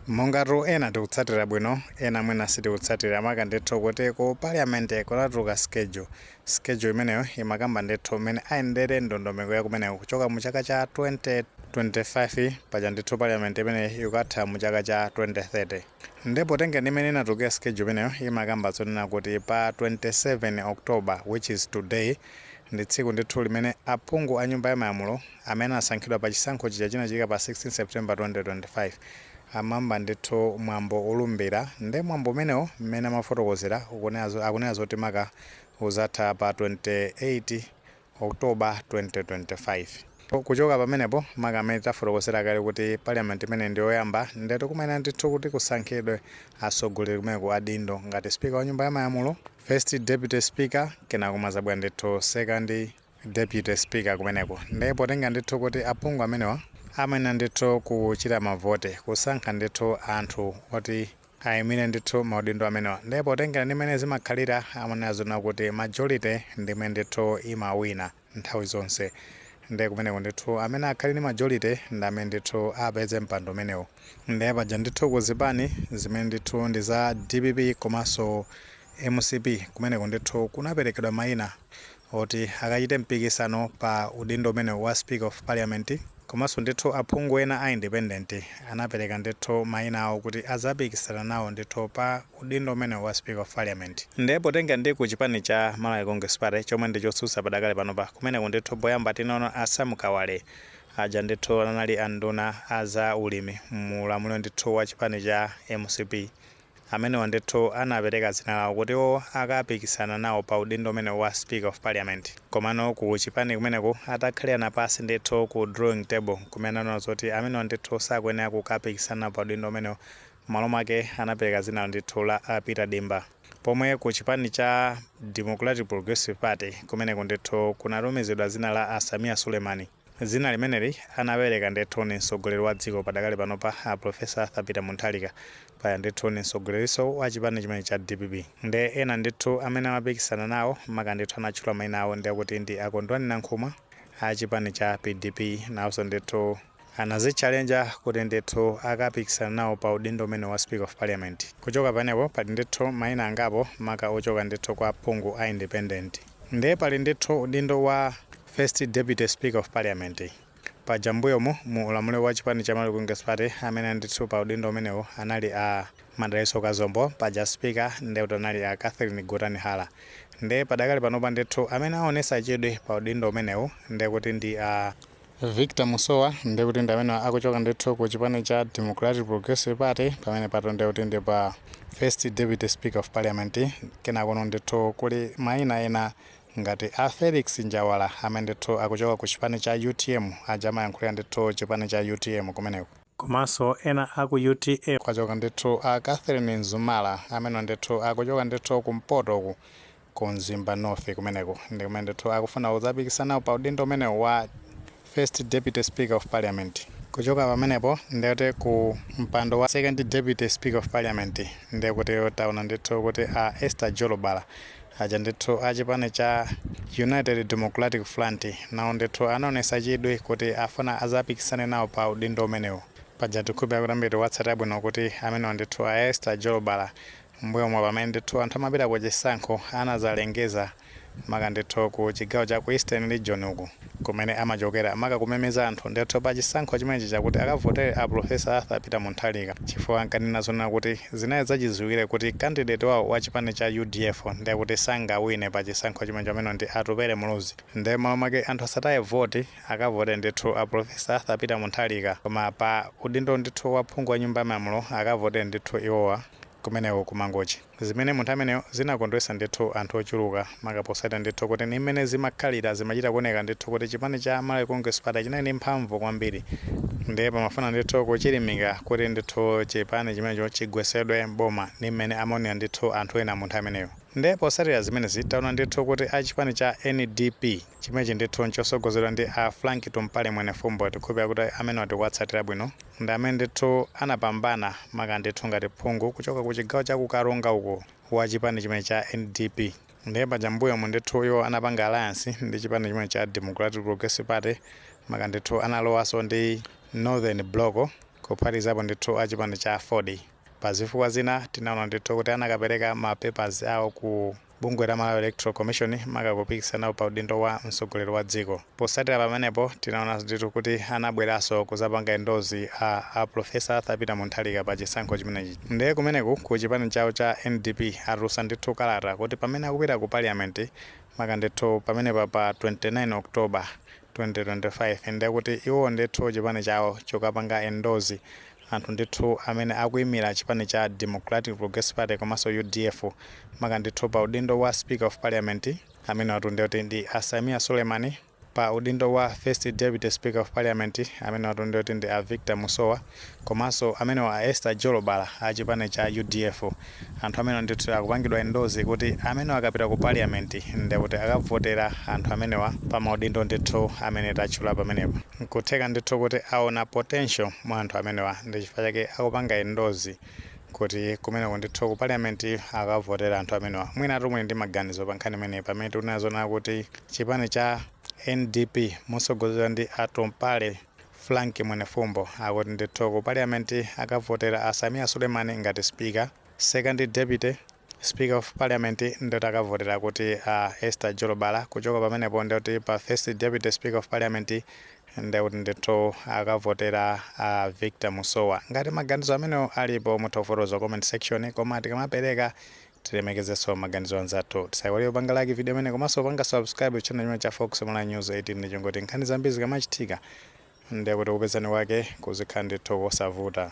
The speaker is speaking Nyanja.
mongatu ena tikutsatira bwino ena mwina sitikutsatira maka ndithu kuti ku parliament kunatuluka schedule schedule imeneyo imakamba ndithu mmene ayendere ndondomeko ya kumeneko kuchoka mu chaka cha 2025 paja ndithu parliament imeneyi ikukatha mu chaka cha 2030 nde potengera ndi mmene inatulukira schedule imeneyo imakamba zonena kuti pa 27 october which is today ndi tsiku ndithu limene aphungu a nyumba ya malamulo Amene anasankhidwa pa chisankho chija chinachitika pa 16 September 2025 amayamba ndithu mwambo olumbira nde mwambo umenewo mmene amafotokozera akunena zoti maka uzatha pa 28 October 2025 kuchoka pamenepo maka mmene tafotokozera kale kuti parliament imeneyi ndi yoyamba ndetu kumayenera ndithu kuti kusankhidwe atsogoleri kumeneku adindo ngati speaker wa nyumba ya malamulo, first deputy speaker kenako kumazabwera ndithu second, Deputy speaker kumeneko nde potenga ndithu kuti aphungu amenewa amayenera ndithu kuchita mavote kusankha ndithu anthu oti ayimire ndithu maudindo amenewa nde potengera ndi mmene zimakhalira amanena zonena kuti majority ndi imene ndithu imawina nthawi zonse nde kumeneko ndithu amene akhale ndi majority ndi amene ndithu apeze mpando umenewu nde paja ndithu ku zipani zimene ndithu ndi za dpp komanso mcp kumeneko ndithu kunaperekedwa mayina oti akachite mpikisano pa udindo umenewu wa speaker of parliament komanso ndithu aphungu ena a independent anapereka ndithu maina awo kuti azapikisana nawo ndithu pa udindo umenewu wa speaker of parliament nde potenga ndi ku chipani cha Malawi Congress Party chomwe ndi chotsutsa padakali panopa kumeneku ndithu poyamba tinaona a Sam Kawale aja ndithu anali anduna a za ulimi mu ulamuliro ndithu wa chipani cha mcp Amenewo ndithu anapereka dzina lawo kuti iwo akapikisana nawo pa udindo umenewu wa speaker of parliament. Komano ku chipani kumeneku atakhalirana pansi ndithu ku drawing table nkumene anaona zoti amenewa ndithu sakuyenera kukapikisana nawo pa udindo umenewu mmalo mwake anapereka dzina ndithu la a Peter Dimba. Pomwe ku chipani cha Democratic Progressive Party kumeneku ndithu kunatumizidwa dzina la a Sameer Suleiman. Dzina limeneli anapereka ndithu ni mtsogoleri wa dziko padakali panopa a Prof. Arthur Peter Mutharika paja ndithu ni mtsogolerinso wa chipani chimenechi cha dpp. Nde ena ndithu amene amapikisana nawo maka ndithu anatchula maina awo ndi akuti ndi a Kondwani Nankhumwa a chipani cha pdp nawonso ndithu anazitchalenja kuti ndithu akapikisana nawo pa udindo umenewu wa Speaker of Parliament. Kuchoka pamenepo pali ndithu maina angapo maka ochoka ndithu kwa aphungu a independent. Ndiye pali ndithu udindo wa First Deputy Speaker of Parliament. Paja m'mbuyomu mu ulamuliro wa chipani cha Malawi Congress Party amene anali ndithu pa udindo umenewu anali a Madalitso Kazombo, paja Speaker ndiye kuti anali a Catherine Gotani Hara. Ndiye padakali panopa ndithu amene aonetsa chidwi pa udindo umenewu ndiye kuti ndi a. Victor Musowa ndekuti ndi amene akuchoka ndithu ku chipani cha Democratic Progressive Party pamenepatu ndekuti ndi pa First Deputy Speaker of Parliament kenakono ndithu kuli maina ena ngati a Felix Njawala amene ndithu akuchoka ku chipani cha utm aja amayankhulira ndithu chipani cha utm kumeneko komanso ena aku utm. Kwachoka ndithu a Catherine Mzumara amenewa ndithu akuchoka ndithu kumpoto uku ku Mzimba North kumeneko ndi kumene ndithu akufuna kudzapikisana nawo pa udindo umenewu wa First Deputy Speaker of Parliament. Kuchoka pamenepo ndiye kuti ku mpando wa Second Deputy Speaker of Parliament ndiye kuti taona ndithu kuti a Esther Jolobala aja ndithu a chipani cha United Democratic Front nawo ndithu anaonetsa chidwi kuti afuna adzapikisane nawo pa udindo umenewu. Paja tikukhulupirira kuti ambiri tikuwatsatira bwino kuti amenewa ndithu a Esther Jolobala M'mbuyomu pamene ndithu anthu amapita ku chisankho anazalengeza maka ndithu ku chigawo cha ku Eastern Region uku kumene amachokera maka kumemeza anthu ndithu pa chisankho chimenechi chakuti akavotere a Prof. Arthur Peter Munthalika chifukwa ankanena zonena kuti zinali zachidziwikire kuti candidate wawo wa chipani cha udf ndekuti sangawine pa chisankho chimenechi amene ndi Atupele Muluzi nde m'malo mwake anthu asataye voti akavotere ndithu a Prof. Arthur Peter Munthalika koma pa udindo ndithu wa phungu wa nyumba ya malamulo akavotere ndithu iwowa kumeneko ku Mangochi zimene mu nthawi imeneyo zinakondwesa ndithu anthu ochuluka maka posatira ndithu kuti ni mmene zimakhalira zimachita kuoneka ndithu kuti chipani cha Malawi Congress Party chinali ndi mphamvu kwambiri ndiye pamafuna ndithu kuchilimika kuti ndithu chipani chimenecho chigwesedwe m'boma ni mmene amaonera ndithu anthu ena mu nthawi imeneyo ndiye posatira zimenezi taona ndithu kuti a chipani cha NDP Chimenechi ndithu nchosogozedwa ndi a Frank Tumpale Mwenefumbo tikukhulupilira kuti amenewa tikuwatsatira bwino ndi amene ndithu anapambana maka ndithu ngati phungu kuchoka ku chigawo cha ku Karonga uko wa chipani chimenechi cha NDP ndiye paja mbuyomu ndithu iwo anapanga alliance ndi chipani chimenechi cha Democratic Progressive Party maka ndithu analowaso ndi Northern Block kuphatikizapo ndithu a chipani cha aford pazifukwa zina tinaona ndithu kuti anakapereka ma papers awo ku bungwe la Malawi Electoral Commission maka kupikisana nawo pa udindo wa mtsogoleri wa dziko. Posatira pamenepo tinaona ndithu kuti anabweranso kuzapanga endorse a Professor Arthur Peter Munthalika pa chisankho chimenechi. Nde kumeneku ku chipani chawo cha NDP atulusa ndithu kalata kuti pamene akupita ku Parliament maka ndithu pamenepa pa 29 October 2025 ndekuti iwo ndithu chipani chawo chukapanga endorse Anthu ndithu amene akuimira chipani cha Democratic Progressive Party komanso udf maka ndithu pa udindo wa Speaker of Parliament amenewatu ndiye kuti ndi a Sameer Suleiman, pa udindo wa First Deputy Speaker of Parliament amenewatu ndiye kuti ndi a Victor Musowa komanso amenewa a Esther Jolobala a chipani cha udf. Anthu amenewa ndithu akupangidwa endorse kuti amenewa akapita ku parliament nde kuti akavotera anthu amenewa pa maudindo ndithu amene tatchula pamenepa. Nkutheka ndithu kuti aona potential mwa anthu amenewa ndi chifukwa chake akupanga endorse kuti kumeneko ndithu ku parliament akavotera anthu amenewa. Mwinatu muli ndi maganizo pa nkhani imeneyi pamene tikuonadi zoona kuti chipani cha ndp motsogozedwa ndi atompale, Frank Mwenefumbo akuti ndithu ku parliament akavotera a Sameer Suleiman ngati speaker, second deputy Speaker of Parliament nde kuti akavotera akuti a Esther Jolobala, kuchoka pamenepo ndekuti pa first deputy Speaker of Parliament ndekuti ndithu akavotera a Victor Musowa. Ngati maganizo amenewo alipo mutha kufotokoza comment section koma tikamapereka Tilemekezeso maganizo anzathu. Tisaiwale kupanga like video imeneyi komaso kupanga subscribe channel chimenechi cha Fox Malawi News 18 ndi cholinga choti nkhani zambiri zikamachitika ndekuti kupezani kwake kuzikhala ndithu kosavuta.